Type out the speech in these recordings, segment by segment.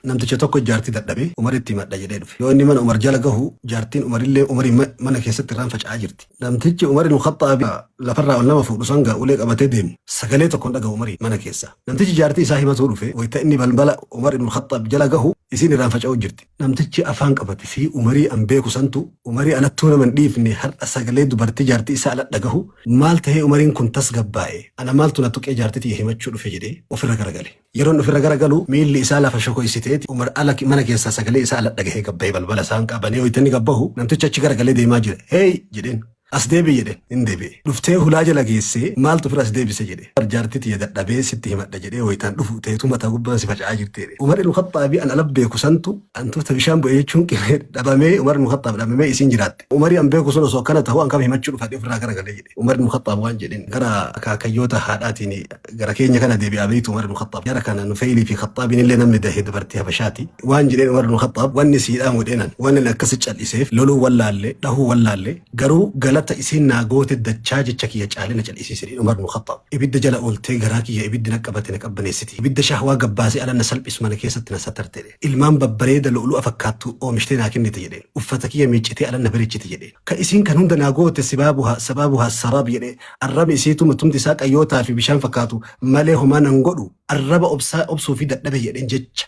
Namticha tokko jaartii dadhabe Umaritti himadha jedhee dhufe. Yoo inni mana Umar jala gahu jaartiin Umarillee Umariin mana keessatti irraan faca'aa jirti. Namtichi Umar ibn Khaxxaabi lafarraa ol nama fuudhu san gaa ulee qabatee deemu sagalee tokkoon dhagahu Umariin mana keessa. Namtichi jaartii isaa himatuu dhufe wayta inni balbala Umar ibn Khaxxaab jala gahu isiin irraan faca'uu jirti. Namtichi afaan qabate fi Umarii an beeku santu Umarii alattuu nama hin dhiifne har'a sagalee dubartii jaartii isaa ala dhagahu maal tahee Umariin kun tasgabbaa'e ana maaltu na tuqee jaartii tiyya himachuu dhufe jedhee ofirra garagale. Yeroon ofirra gara galu miilli isaa lafa shokoysiteeti Umar ala mana keessaa sagalee isaa ala dhagahee gad bahee balbala saanqaa banee hoyta inni gad bahu namtichi achi gara galee deemaa jira heey jedheen as deebi'i jedheen hin deebi'e dhuftee hulaa jala geessee maaltu ofirra as deebise jedhe Umar jaartii tiyya dadhabee sitti himadha jedhee hoytaan dhufu teetu mataa gubbaan si faca'aa jirti jedhe Umar ibn Khaxxaabii an ala beeku santu antuuta bishaan bu'e jechuun qimee dhabamee Umar ibn Khaxxaab dhabamee isiin jiraatte Umari an beeku sun osoo akkana ta'u an kam himachuu dhufadhe ofirraa gara galee jedhe Umar ibn Khaxxaab waan jedhin gara akaakayyoota haadhaatiin gara keenya kana deebi'aa beektu Umar ibn Khattaab jara kana Nufeylii fi Khattaabiin illee namni dahe dubartii Habashaati waan jedheen Umar ibn Khattaab wanni siidhaan godheenan waan inni akkasi cal'iseef loluu wallaalle dhahuu wallaalle garuu galata isiin naa goote dachaa jecha kiyya caalee na cal'isiise jedhe Umar ibn Khattaab ibidda jala ooltee garaa kiyya ibiddi na qabate na qabbaneessiti ibidda shahwaa gabbaasee ala na salphisu mana keessatti na sattarte jedhe ilmaan babbareeda lu'lu'a fakkaattu oomishtee naa kennite jedheen uffata kiyya miiccitee ala na bareechite jedhe Ka isiin kan hunda naa goote sibaabuhaa, sababuhaa, as-saraab jedhe, arrabni isiituu matumti isaa qayyootaa fi bishaan fakkaatu malee homaa nan godhu, arraba obsaa obsuufii dadhabe jedheen jecha.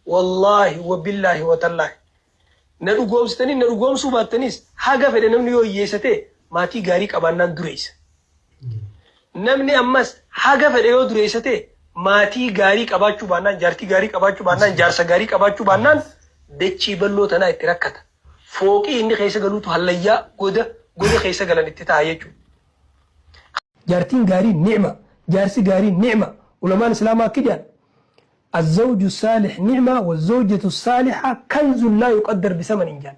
Wallaahi, wa billaahi, wa tallaahi. Na dhugoomsitaniis na dhugoomsuu baattaniis haga fedhe namni yoo hiyyeessa ta'e maatii gaarii qabaannaan dureessa. Namni ammas haga fedhe yoo dureessa ta'e maatii gaarii qabaachuu baannaan, jaartii gaarii qabaachuu baannaan, jaarsa gaarii qabaachuu baannaan dachii bal'oo tanaa itti rakkata. Fooqii inni keessa galuutu hallayyaa, goda, goda keessa galan itti taha jechuudha. Jaartiin gaariin ni'ma, jaarsi gaariin ni'ma. Ulamaan Islaamaa akki jedhan, Azzawju assaalih nicma wazzawjatu assaaliha kanzun laa yuqaddar bisamanin jedhan.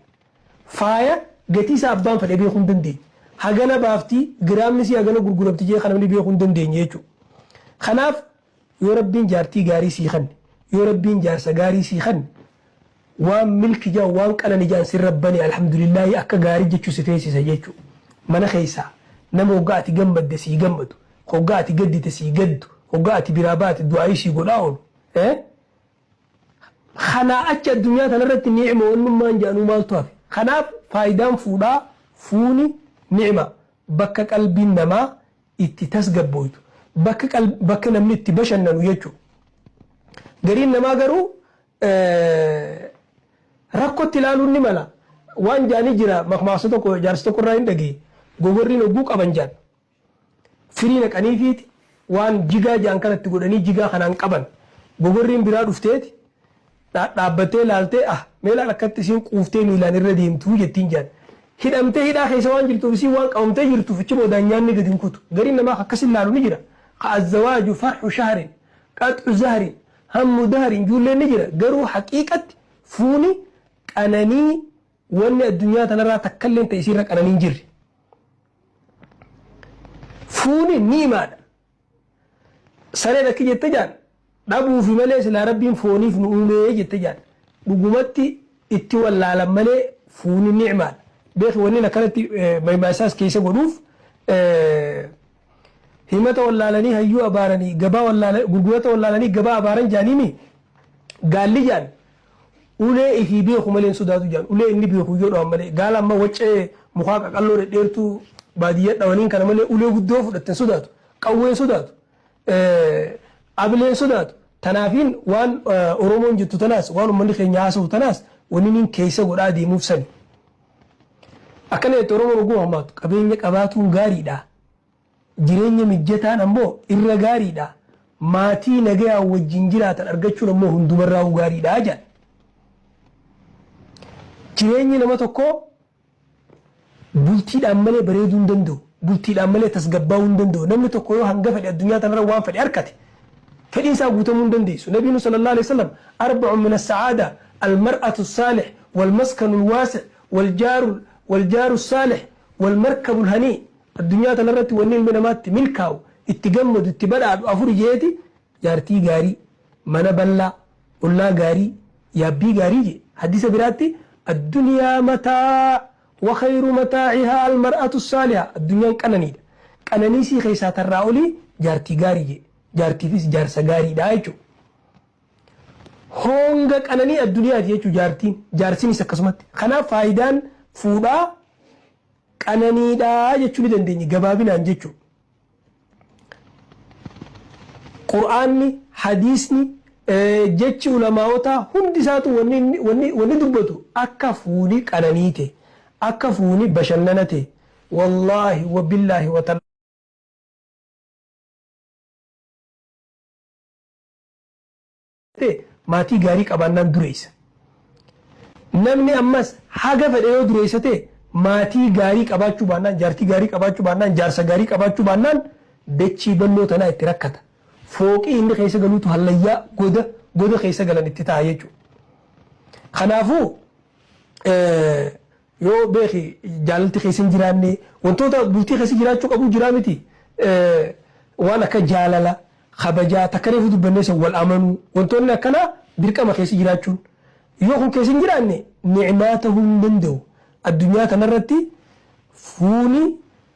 Faaya gatii isaa abbaan fedhe beekuu hin dandeenye. Hagana baafti, giraamni isii hagana gurguramti jedhee kan namni beekuu hin dandeenye jechuudha. Kanaaf yoo Rabbiin jaartii gaarii sii kenne, yoo Rabbiin jaarsa gaarii sii kenne, Waan milki jaan waan qanani jaan sin rabbani alhamdulilahii akka gaari jechu si feesisa jechu mana keessa nama hogga ati gammadde sii gammadu hogga ati gaddite sii gaddu hogga ati biraa baate du'aayii sii godhaa olu eh kanaa achi addunyaa tanarratti ni'ima wannummaan jaanuu maaltu hafe kanaaf faayidaan fuudhaa fuuni ni'ima bakka qalbiin namaa itti tasgabbooytu bakka namni itti bashannanu jechu gariin namaa garuu rakkotti ilaaluun ni mala. Waan jaanii jira makmaaksa tokko jaarsa tokko irraa hin dhagee gogorriin hogguu qaban jaan firii naqaniifiiti waan jigaa jaan kanatti godhanii jigaa kanaan qaban gogorriin biraa dhufteeti dhaabbattee laaltee ah meelaan akkatti isiin quuftee miilaan irra deemtuu jettiin jaan hidhamtee hidhaa keessa waan jirtuuf isiin waan qabamtee jirtuuf achi boodaan nyaanni gadi hin kutu gariin namaa akkas ilaalu ni jira ka azzawaaju farhu shahrin qaxu zahrin Hammu dahar hin juulleen ni jira garuu haqiiqatti fuuni qananii wanni addunyaa tanarraa takkalleen ta isiirra qananii hin jirre. Fuuni ni'imaadha. Sareen akki jette jaan dhabuufi malee silaa rabbiin fooniif nu uumee jette jaan dhugumatti itti wallaalan malee fuuni ni'imaadha. Beeki wannin akkanatti maymaasaas keessa godhuuf Himata wallaalanii hayyuu abaaranii gabaa wallaalanii gurgurata wallaalanii gabaa abaaran jaaniimi gaalli jaan ulee ifii beeku malee hin sodaatu jaan ulee inni beeku yoo dhawan malee gaala amma waccee mukaa qaqalloo dhedheertuu baadiyyaa dhawaniin kana malee ulee guddoo fudhatte hin sodaatu qawwee hin sodaatu abilee hin sodaatu tanaafiin waan oromoon jettu tanaas waan ummanni keenya haasa'u tanaas wanni niin keessa godhaa deemuuf sani. Akkana jette Oromoon hogguu mammaaktu, qabeenya qabaatuun gaariidha, jireenya mijjataan ammoo irra gaariidha, maatii nagayaan wajjin jiraatan argachuun ammoo hundumarraa'uu gaariidha jedhan. Jireenyi nama tokkoo bultiidhaan malee bareeduu hin danda'u, bultiidhaan malee tasgabbaa'uu hin danda'u. Namni tokko yoo hanga fedhe addunyaa tanarra waan fedhe arkate, Fedhiin isaa guutamuu hin dandeessu. Nabiinu sallallahu aleyh wasallam arbacun min assa'aada almar'atu assaalih walmaskanu alwaasi' waljaaru waljaaru assaalih walmarkabu alhanii Addunyaa tana irratti wanni ilmi namaa itti milkaawu, itti gammadu, itti badhaadhu afuri je'eeti, Jaartii gaarii, mana ballaa, ollaa gaarii, yaabbii gaarii je'e. Hadiisa biraatti, Addunyaa mataa' Wakhayru mataacihaa almar'atu saaliha Addunyaan qananiidha. Qananii isii keessaa tarraa olii jaartii gaarii jedhe. Jaartiifis jaarsa gaariidha jechuudha. Hoonga qananii addunyaati jechuudha jaartiin. Jaarsinis akkasumatti. Kanaaf faayidaan fuudhaa qananiidha jechuu ni dandeenya gabaabinaan jechuudha. Qur'aanni, hadiisni, jechi ulamaa'otaa hundi isaatuu wanni inni, wanni, wanni dubbatu akka fuuli qananiite, akka fuuni bashannanate, wallaahi, wabillaahi, wata. ta'e maatii gaarii qabaannaan dureessa. Namni ammas haga fedhe yoo dureessa ta'e maatii gaarii qabaachuu baannaan, jaartii gaarii qabaachuu baannaan, jaarsa gaarii qabaachuu baannaan dachii bal'oo tanaa itti rakkata. Fooqii inni keessa galuutu hallayyaa, goda, goda keessa galan itti ta'a jechuudha. Kanaafuu, Yoo beeki jaalalti keessa hin jiraanne wantoota bultii keessa jiraachuu qabuu jiraa miti waan akka jaalala, kabajaa takka reefu dubbannee san wal amanuu wantoonni akkanaa dirqama keessa jiraachuun yoo kun keessa hin jiraanne ni'maa tahuu hin danda'u addunyaa tanarratti fuuni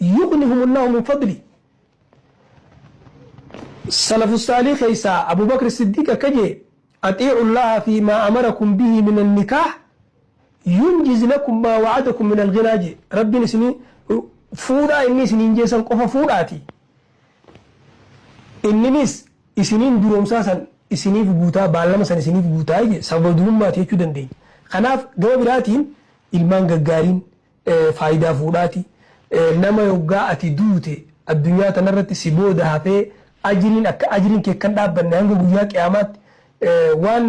Yugnihumullaahu min fadli Salafussaaliih keessaa Abuu Bakr As-Siddiiq akka je'e, Axii'ullaaha fii maa amarakum bihii minan nikaah yunjiz lakum maa wa'adakum minal ghinaa je'e. Rabbiin isin fuudhaa inni isiniin je'e san qofa fuudhaatii inninis isiniin duroomsaa san isiniif guutaa, baallama san isiniif guutaa je'e. Sababa durummaati jechuu dandeenya. Kanaaf gama biraatiin ilmaan gaggaariin Faayidaa fuudhaati. Nama yoggaa ati duute addunyaa tanarratti si booda hafee ajriin akka ajriin kee akkan dhaabbanne hanga guyyaa qiyaamaatti waan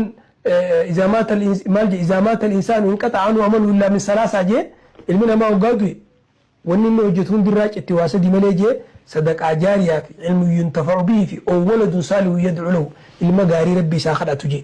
izaa maata maal jee izaa maata al-insaanu inqaxa'a anhu amaluhu illaa min salaasaa jee ilmi namaa yoggaa du'e wanni inni hojjetu hundi irraa citti waa sadii malee jee sadaqaa jaariyaa fi ilmun yuntafa'u bihi fi ow waladun saalihun yad'u lahu ilma gaarii rabbi isaa kadhatu jee.